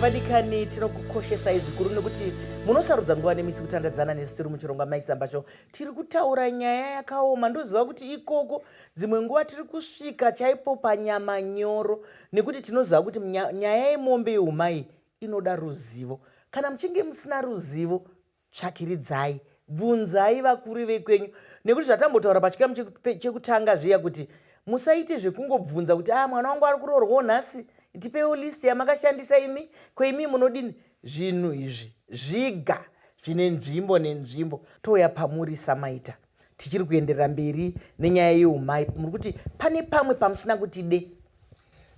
vadikani tinokukoshesai zvikuru nekuti munosarudza nguva nemisi kutandadzana nesu tiri muchironga maisambasho tiri kutaura nyaya yakaoma ndoziva kuti ikoko dzimwe nguva tiri kusvika chaipo panyama nyoro nekuti tinoziva kuti nyaya yemombe yeumai inoda ruzivo kana muchinge musina ruzivo Tsvakiridzai, bvunzai vakuru vekwenyu nekuti zvatambotaura pachikamu chekutanga zviya kuti musaite zvekungobvunza kuti ah mwana wangu ari kuroorwawo nhasi tipeiwo list yamakashandisa imi ko imi munodini zvinhu izvi zviga zvine nzvimbo nenzvimbo touya pamuri samaita tichiri kuenderera mberi nenyaya yeumai muri kuti pane pamwe pamusina kuti de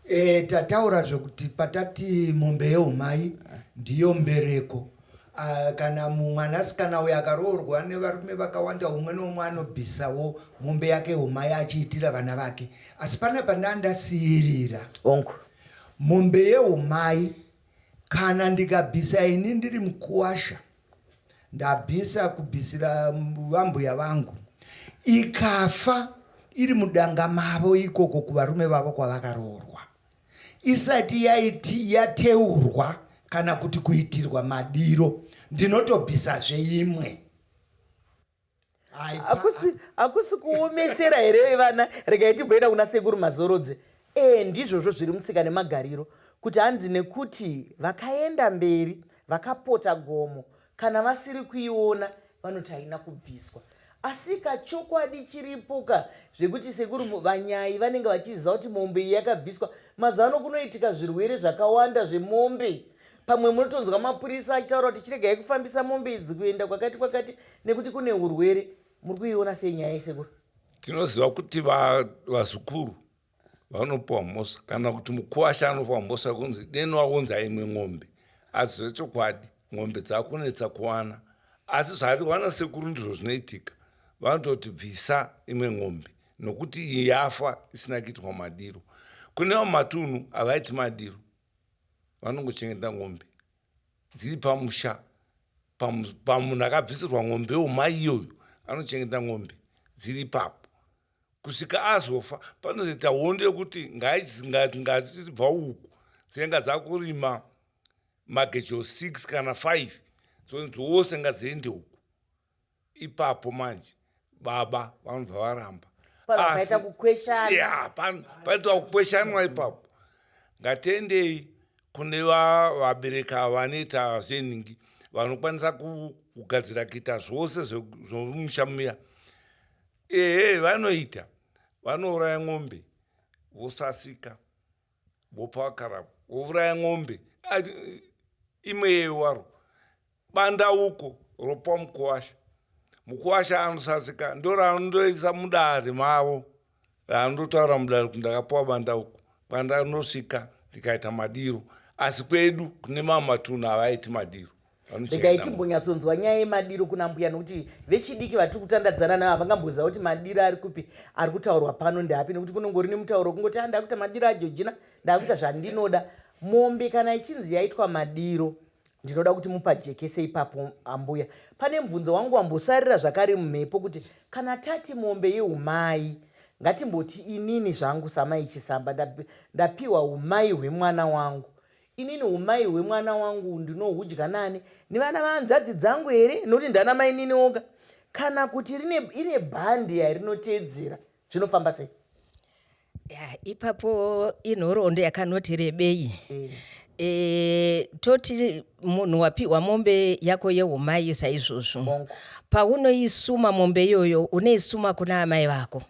e, tataura zvekuti patati mombe yeumai ndiyo mbereko Uh, kana mumwanasikana uyo akaroorwa nevarume vakawanda umwe noumwe anobvisawo mombe yake umai achiitira vana vake asi pana pandaa ndasiyirira onko mombe yeumai kana ndikabvisa ini ndiri mukuwasha ndabvisa kubvisira vambuya vangu ikafa iri mudanga mavo ikoko kuvarume vavo kwavakaroorwa isati yaiti yateurwa kana kuti kuitirwa madiro ndinotobvisazve imwe hakusi kuomesera here vana regai timboenda kuna sekuru mazorodze ee eh, ndizvozvo zviri mutsika nemagariro kuti hanzi nekuti vakaenda mberi vakapota gomo kana vasiri kuiona vanoti haina kubviswa asi kachokwadi chiripoka zvekuti sekuru vanyai vanenge vachiziva kuti mombe iyi yakabviswa mazuva ano kunoitika zvirwere zvakawanda zvemombe pamwe munotonzwa mapurisa achitaura kuti chiregai kufambisa mombe idzi kuenda kwakati kwakati nekuti kune urwere muri kuiona sei nyaya yesekuru tinoziva kuti vazukuru vanopiwa mhosa kana kuti mukuwasha anopiwa mhosa kunzi deno waunza imwe ng'ombe asi zvechokwadi ng'ombe dzakunetsa kuwana asi zvaati wana sekuru ndizvo zvinoitika vanototi bvisa imwe ng'ombe nokuti yafa isina kuitwa madiro kune vamatunhu havaiti madiro vanongochengeta ng'ombe dziri pamusha pamunhu akabvisirwa ng'ombe yomai iyoyo anochengeta ng'ombe dziri ipapo kusvika azofa panozoita hondo yekuti ngazi chizibva uku dzinenga dzakurima magejo 6 kana 5 dzose ngadziende uku ipapo manje baba vanobva varamba pakaita kukweshana yeah, panoita kukweshanwa ipapo ngatiendei kune vabereka vanoita zvenhingi vanokwanisa kugadzira kuita zvose zvomusha muya ehe vanoita vanouraya ng'ombe vosasika vopa vakarapa vouraya ng'ombe imwe yewaro Bandauko ropa mukuwasha mukuwasha anosasika ndo raanondoisa mudare mavo raanondotaura mudare kuti ndakapuwa bandauko kwandanosvika ndikaita madiro asi kwedu kune mamwe matunhu havaiti madiro regai timbonyatsonzwa nyaya yemadiro kuna mbuya nokuti vechidiki vatiri kutandadzana navo havangamboziva kuti madiro ari kupi ari kutaurwa pano ndeapi nekuti kunongori nemutauro kungoti andakuita ah, madiro ajojina ndakuita zvandinoda mombe kana ichinzi yaitwa madiro ndinoda kuti mupajekese ipapo ambuya pane mubvunzo wangu wambosarira zvakare mumhepo kuti kana tati mombe yeumai ngatimboti inini zvangu samai chisamba ndapiwa umai hwemwana wangu inini umai hwemwana wangu ndinohudya nani nevana vahanzvadzi dzangu here nokuti ndana mainini oga kana kuti ine bhandi yarinoteedzera zvinofamba sei yeah, ipapo inhoroondo yakanoti rebei eh. E, toti munhu wapiwa mombe yako yeumai saizvozvo paunoisuma mombe iyoyo unoisuma kuna amai vako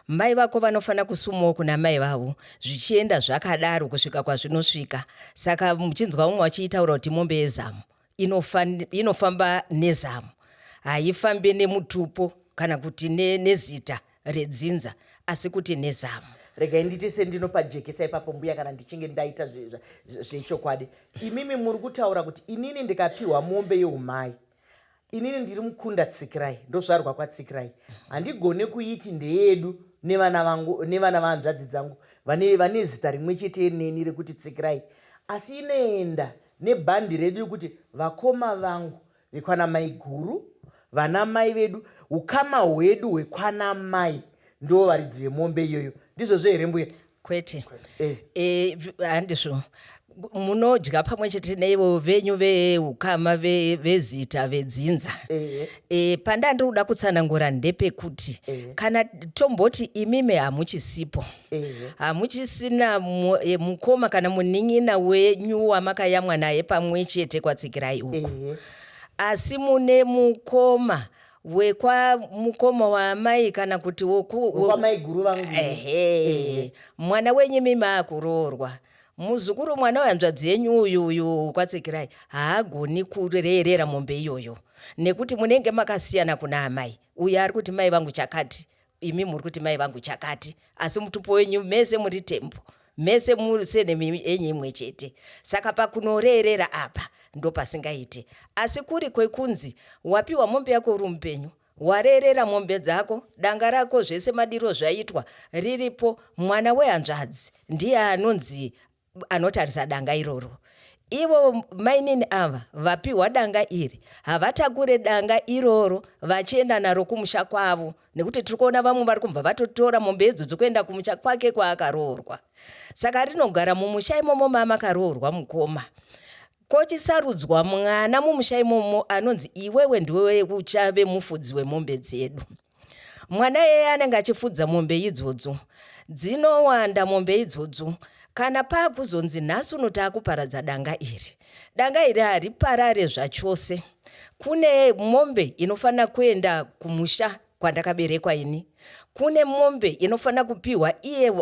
mai vako vanofanira kusumawo kuna mai vavo zvichienda zvakadaro kusvika kwazvinosvika saka muchinzwa umwe vachiitaura kuti mombe yezamu inofamba nezamu haifambe nemutupo kana kuti ne, nezita redzinza asi kuti nezamu regai ndite sendinopajekesa ipapo mbuya kana ndichinge ndaita zvechokwadi imimi muri kutaura kuti inini ndikapiwa mombe yeumai inini ndiri mukunda tsikirai ndozvarwa kwatsikirai handigone kuiti ndeyedu nevana vangu nevana vahanzvadzi dzangu vane vane zita rimwe chete neni rekuti tsikirai asi inoenda nebhandi redu rekuti vakoma vangu vekwana maiguru vana mai vedu ukama hwedu hwekwana mai ndo varidzi vemombe iyoyo ndizvozvo here mbuya kwete eh. Eh, handizvo eh. eh, munodya pamwe chete neivo venyu veukama vezita ve vedzinza eh. eh, pandandiri kuda kutsanangura ndepekuti eh. kana tomboti imimi hamuchisipo hamuchisina eh, mukoma kana munin'ina wenyu wamakayamwa naye pamwe chete kwatsikirai uku asi mune mukoma wekwa mukoma waamai kana kuti wokwamaiguru vangu ehe mwana wenyu mimi akuroorwa muzukuru mwana wehanzvadzi yenyu uyu uyu kwatsikirai haagoni kureerera mombe iyoyo nekuti munenge makasiyana kuna amai uyo ari kuti mai vangu chakati imi muri kuti mai vangu chakati asi mutupo wenyu mese muri tembo mese musenemi enyu imwe chete saka pakunoreerera apa ndopasingaiti asi kuri kwekunzi wapiwa mombe yako uri mupenyu wareerera mombe dzako danga rako zvese madiro zvaitwa riripo mwana wehanzvadzi ndiye anonzi anotarisa danga iroro ivo mainini ava vapiwa danga iri havatakure danga iroro vachienda naro kumusha kwavo nekuti tiri kuona vamwe vari kubva vatotora mombe idzo dzokuenda kumusha kwake kwaakaroorwa saka rinogara mumusha imomo mama akaroorwa mukoma kochisarudzwa mwana mumusha imomo anonzi iwewe ndiwewe uchave mufudzi wemombe dzedu Mwana iyeye anenge achifudza mombe idzodzo. Dzinowanda mombe idzodzo kana paakuzonzi nhasi uno taakuparadza danga iri. Danga iri hariparare zvachose. Kune mombe inofanira kuenda kumusha kwandakaberekwa ini. Kune mombe inofanira kupiwa iye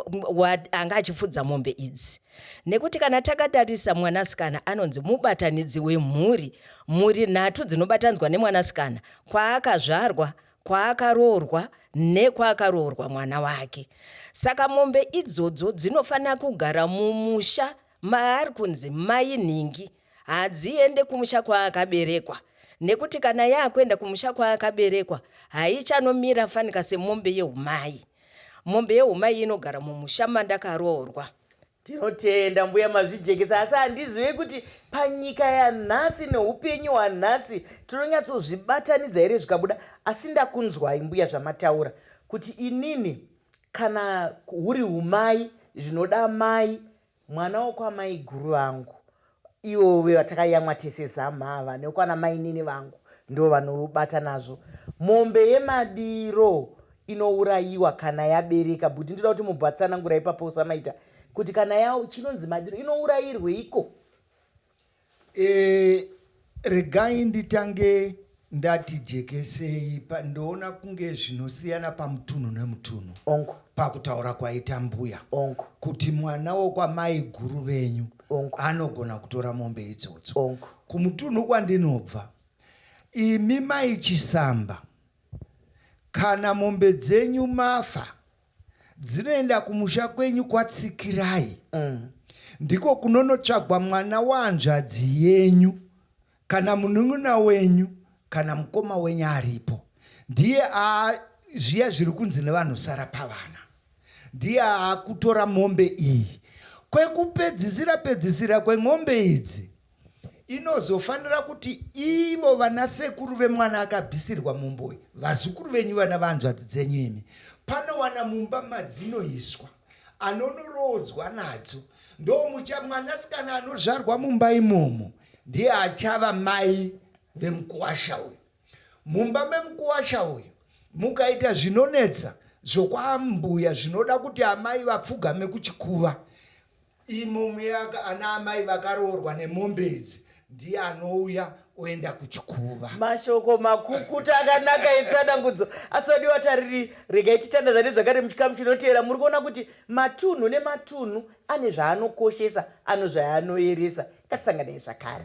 anga achifudza mombe idzi. Nekuti kana takatarisa mwanasikana anonzi mubatanidzi wemhuri, mhuri nhatu dzinobatanzwa nemwanasikana, kwaakazvarwa, kwaakaroorwa nekwaakaroorwa mwana wake. Saka mombe idzodzo dzinofanira kugara mumusha maari kunzi mai nhingi, hadziende kumusha kwaakaberekwa nekuti kana yaakuenda kumusha kwaakaberekwa haichanomira fanika semombe yeumai. Mombe yeumai inogara mumusha mandakaroorwa. Tinotenda mbuya mazvijekesa asi handizive kuti panyika yanhasi neupenyu hwanhasi tinonyatsozvibatanidza here zvikabuda asi ndakunzwai mbuya zvamataura kuti inini kana huri umai zvinoda mai mwana wokwamai guru vangu Ivo vevatakayamwa tese zamhava nekwana mainini vangu ndo vanobata nazvo mombe yemadiro inourayiwa kana yabereka bhuti ndoda kuti mubhatsanangura ipapo usamaita kuti kana yawo chinonzi madiro inourayirweiko e, Regai nditange ndati jekesei ndoona kunge zvinosiyana pamutunhu nemutunhu onko pakutaura kwaita mbuya onko kuti mwana wokwamai guru venyu onko anogona kutora mombe idzodzo onko kumutunhu kwandinobva imi mai chisamba kana mombe dzenyu mafa dzinoenda kumusha kwenyu kwatsikirai mm. ndiko kunonotsvagwa mwana wahanzvadzi yenyu kana munun'una wenyu kana mukoma wenyu aripo ndiye zviya zviri kunzi nevanhu sara pavana ndiye akutora mombe iyi kwekupedzisira pedzisira kwemombe idzi inozofanira kuti ivo vana sekuru vemwana akabhisirwa mumboyi vazukuru venyu vana vanzvadzi dzenyu imi panowana mumba madzinoiswa anonorodzwa nadzo ndomucha mwanasikana anozvarwa mumba imomo ndiye achava mai vemukuwasha uyu mumba memukuwasha uyu mukaita zvinonetsa zvokwambuya zvinoda kuti amai vapfugame kuchikuva Imo muyaka ana amai vakaroorwa nemombe idzi ndiye anouya oenda kuchikuva. Mashoko makukuta akanaka etsanangudzo asodiwa tariri. Regai titandazane zvakare muchikamu chinoteera. Muri kuona kuti matunhu nematunhu ane zvaanokoshesa, ano zvaanoeresa. Ngatisanganei zvakare.